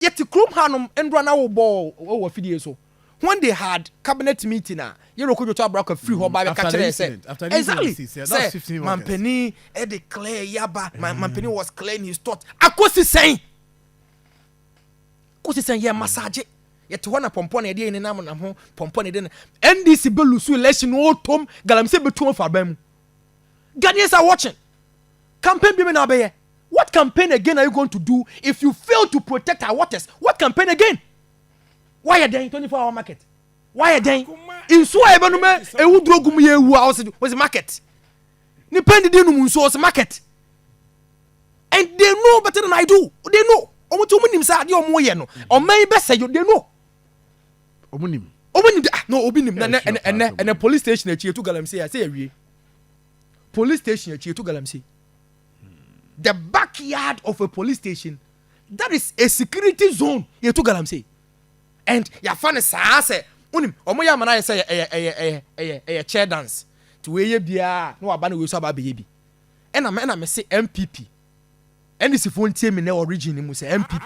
Yɛte kurom hanom ndora na wɔbɔɔ wɔ afidie so. When they had cabinet meeting a, Yero Kodwoto Abraka firi hɔ ba bɛka kyerɛɛ sɛ, exactly, sɛ mampanin de clay yi aba, mampanin was claying his thought, akosi sɛn? Akosi sɛn? Yɛ massage. Yɛte hɔ na pɔmpɔ na yɛde yɛ nenam nam ho, pɔmpɔ na yɛde na NDC bɛlusu election na ɔtom, galamsey bɛtu wɔn afa aban mu. Ghanaians are watching. Campaign bi me na abɛyɛ. What campaign again are you going to do if you fail to protect our waters? What campaign again? Wayɛ dɛn 24 hour market? Wayɛ dɛn? Nsuo a yɛbɛnom ɛ ewu duro gu mu yɛ ewu a ɔsi ɔsi market. Nipa ndidi num nsuo ɔsi market. And they know better than I do. They know. Wɔn ti wɔn nim sɛ adeɛ wɔn yɛ no ɔman yi bɛsɛ yɛ they know. ɔmo nim ɔmo nim ah na obi nim na ɛnɛ ɛnɛ ɛnɛ ɛnɛ police station akyi etu galamsey a sɛ yɛ wie police station akyi etu galamsey the backyard of a police station that is a security zone yɛtu galamsey and yɛafa no saa sɛ wonim ɔmo yɛ amana yɛ sɛ ɛyɛ ɛyɛ ɛyɛ ɛyɛ ɛyɛ chair dance nti wɔyɛ biara na waba na wɔyɛ so aba abɛyɛ bi ɛna ɛna mese mpp NDC foɔ ntie me nɛ origin no mu sɛ NPP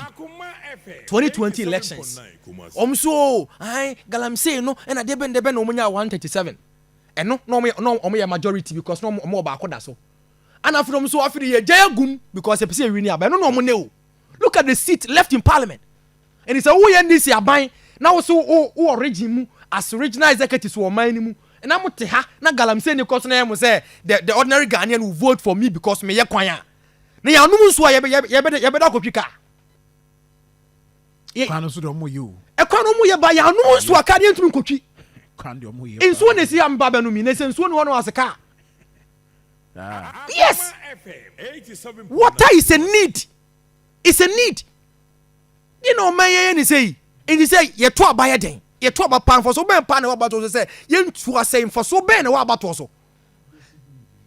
2020 elections ɔmo so oo ae galamsey no ɛna deɛ bɛn deɛ bɛn na ɔmo nyaa 137 ɛno na ɔmo na ɔmo yɛ majority because na ɔmo ɔmo wɔ baako da so ana afei ɔmo so afei de yɛ gya agum because ɛpɛ sɛ ɛwi ni aba ɛno na ɔmo nɛ o look at the seat left in parliament. Enti sɛ woyɛ NDC aban na wo se wo wɔ region mu as regional executives wɔ ɔman no mu na mo te ha na galamsey ni kɔ so na ɛyɛ mo sɛ the the ordinary Ghanaian will vote for me because meyɛ kwan a, na yɛanom nsuo a yɛbɛ yɛbɛ yɛbɛda yɛbɛda akɔtwi ka. Yɛ Kwan no nso deɛ ɔmo yɛ o. ɛkwan no ɔmo yɛ ba yɛanom nsuo a kaa deɛ ntumi nkɔtwi. Kwan deɛ ɔmo yɛ paa. Nsuo na esi ha meba abɛnom yi na sɛ nsuo ni hɔ no ase kaa. Saa. Yes! Water is a need. It's a need. Deɛ na ɔma yɛyɛ ne sɛ yi, enti sɛ yɛto aba yɛ dɛn? Yɛto aba paa, mfasoɔ bɛn paa na ɛwɔ abatoɔ so sɛ yɛntu asa yi? Mfasoɔ bɛn na ɛwɔ abatoɔ so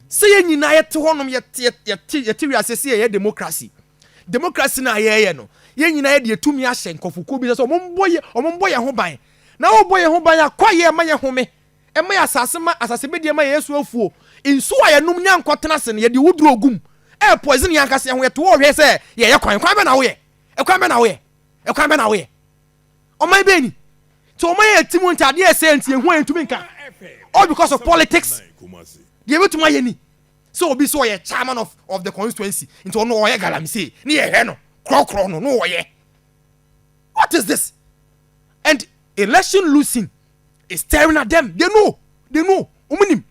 sɛ yɛn nyinaa yɛte hɔnom, yɛte, yɛte, yɛte wiase sɛ yɛyɛ demokrasi? Demokrasi no a yɛyɛ no, yɛn nyinaa yɛde yɛtumi ahyɛ nkurɔfokuo bi sɛ sɛ wɔmmɔ yɛ, wɔmmɔ yɛn ho ban. Na wɔbɔ yɛn ho ban a, kwaeɛ ɛma yɛhome. Ɛma yɛ asase ma asase bedi ɛma yɛ so afuo nsuo a yɛ nom nya nkɔ tena ase no yɛ de owu duro gum ɛyɛ poison yɛ ankasa yɛ ho yɛ to wɔ hwɛ sɛ yɛ yɛ kwan kwan bɛ na wo yɛ ɛkwan bɛ na wo yɛ ɛkwan bɛ na wo yɛ ɔman bɛ ni ti ɔman yɛ ti mu nti adeɛ yɛ sɛ nti yɛ hu a yɛ ntumi nka all because of politics deɛ bɛ tuma yɛ ni sɛ obi sɛ ɔyɛ chairman of of the constituency nti ɔno ɔyɛ galamsey ne yɛ hwɛ no korɔkorɔ no no ɔyɛ what is this and election losing is staring at them they know they know wɔn nim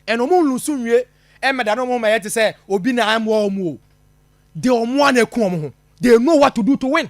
ɛna wɔn nlusu nwie ɛmɛda no wɔn mɛyɛ te sɛ obi na amoa wɔn o de wɔn a na eku wɔn ho they know what to do to win.